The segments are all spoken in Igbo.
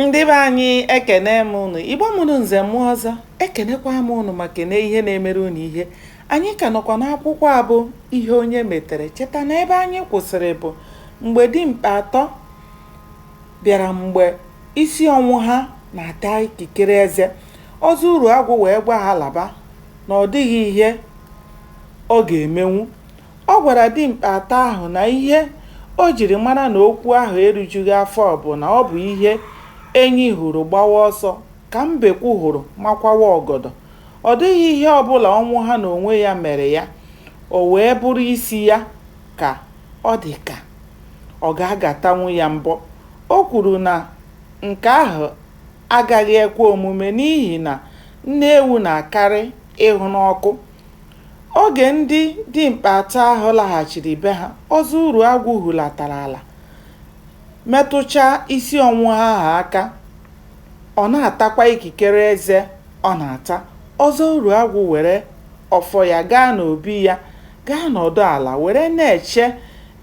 ndị be anyị ekene m ụnụ igbo mụrụ nze mụọ ọzọ ekenekwa m ụnụ ma kene ihe na-emere ụnụ ihe anyị ka nọkwa n'akwụkwọ a bụ ihe onye metere cheta na ebe anyị kwụsịrị bụ mgbe dimkpa atọ bịara mgbe isi ọnwụha na-ata ikikere eze ọzọ uruagwụ wee gwa ha laba na ọ dịghị ihe ọ ga-emenwu Ọ gwara dimkpa atọ ahụ na ihe o jiri mara na okwu ahụ erujughị afọ bụ na ọ bụ ihe enyi hụrụ gbawa ọsọ ka mbekwu hụrụ makwawa ọgọdọ. Ọ dịghị ihe ọbụla Ọnwụha n'onwe ya mere ya, o wee bụrụ isi ya ka ọ dị ka ọ ga-agatanwu ya mbọ. O kwuru na nke ahụ agaghị ekwe omume n'ihi na nne ewu na-akarị ịhụ n'ọkụ Oge ndị dimkpa atọ ahụ laghachiri be ha, Ọzọ Uruagwụ hulatara ala metụchaa isi Ọnwụha ahụ aka. Ọ na-atakwa ikikere eze ọ na-ata. Ọzọ Uruagwụ were ọfọ ya gaa n'obi ya gaa nọdụ ala were na-eche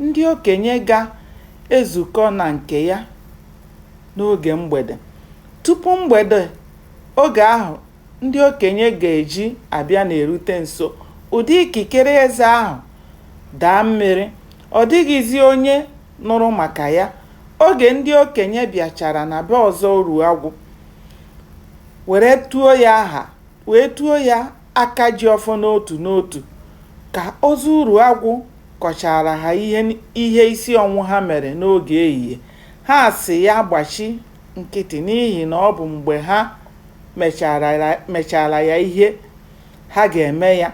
ndị okenye ga-ezukọ na nke ya n'oge mgbede. Tupu mgbede oge ahụ, ndị okenye ga-eji abịa na-erute nso, ụdị ikikere eze ahụ daa mmiri, ọ dịghịzi onye nụrụ maka ya. Oge ndị okenye bịachara na be Ọzọ Uruagwụ were tuo ya aha wee tuo ya Akajiọfọ n'otu n'otu, ka Ọzọ Uruagwụ kọchaara ha ihe isi Ọnwụha mere n'oge ehihie, ha asị ya gbachi nkịtị n'ihi na ọ bụ mgbe ha mechaara ya ihe ha ga-eme ya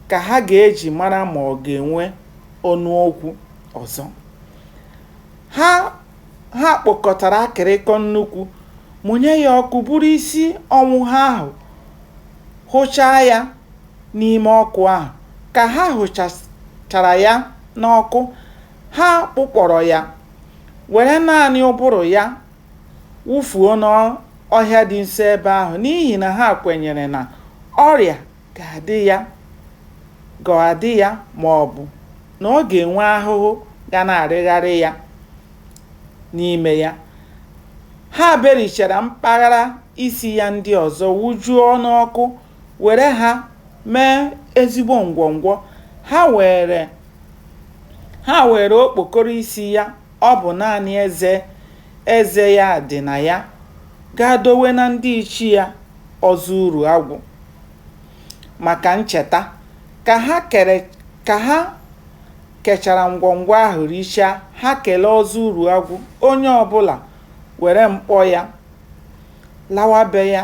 ka ha ga-eji mara ma ọ ga-enwe ọnụ okwu ọzọ. Ha kpokọtara akịrịkọ nnukwu, mụnye ya ọkụ buru isi Ọnwụha ahụ, hụchaa ya n'ime ọkụ ahụ. Ka ha hụchachara ya n'ọkụ, Ha kpụkpọrọ ya, were naanị ụbụrụ ya wụfuo n'ọhịa dị nso ebe ahụ n'ihi na ha kwenyere na ọrịa ga-adị ga-adị ya ma ọ bụ na ọ ga-enwe ahụhụ ga na-arịgharị ya n'ime ya. Ha berichara mpaghara isi ya ndị ọzọ wụjuo n'ọkụ were ha mee ezigbo ngwọngwọ ha were okpokoro isi ya ọ bụ naanị eze ya dị na ya gaa dowe na ndị ichie ya ọzọ uru agwụ maka ncheta ka ha kechara ngwọngwọ ahụ richaa ha kelee ọzọ uru agwụ onye ọbụla were mkpọ ya lawa be ya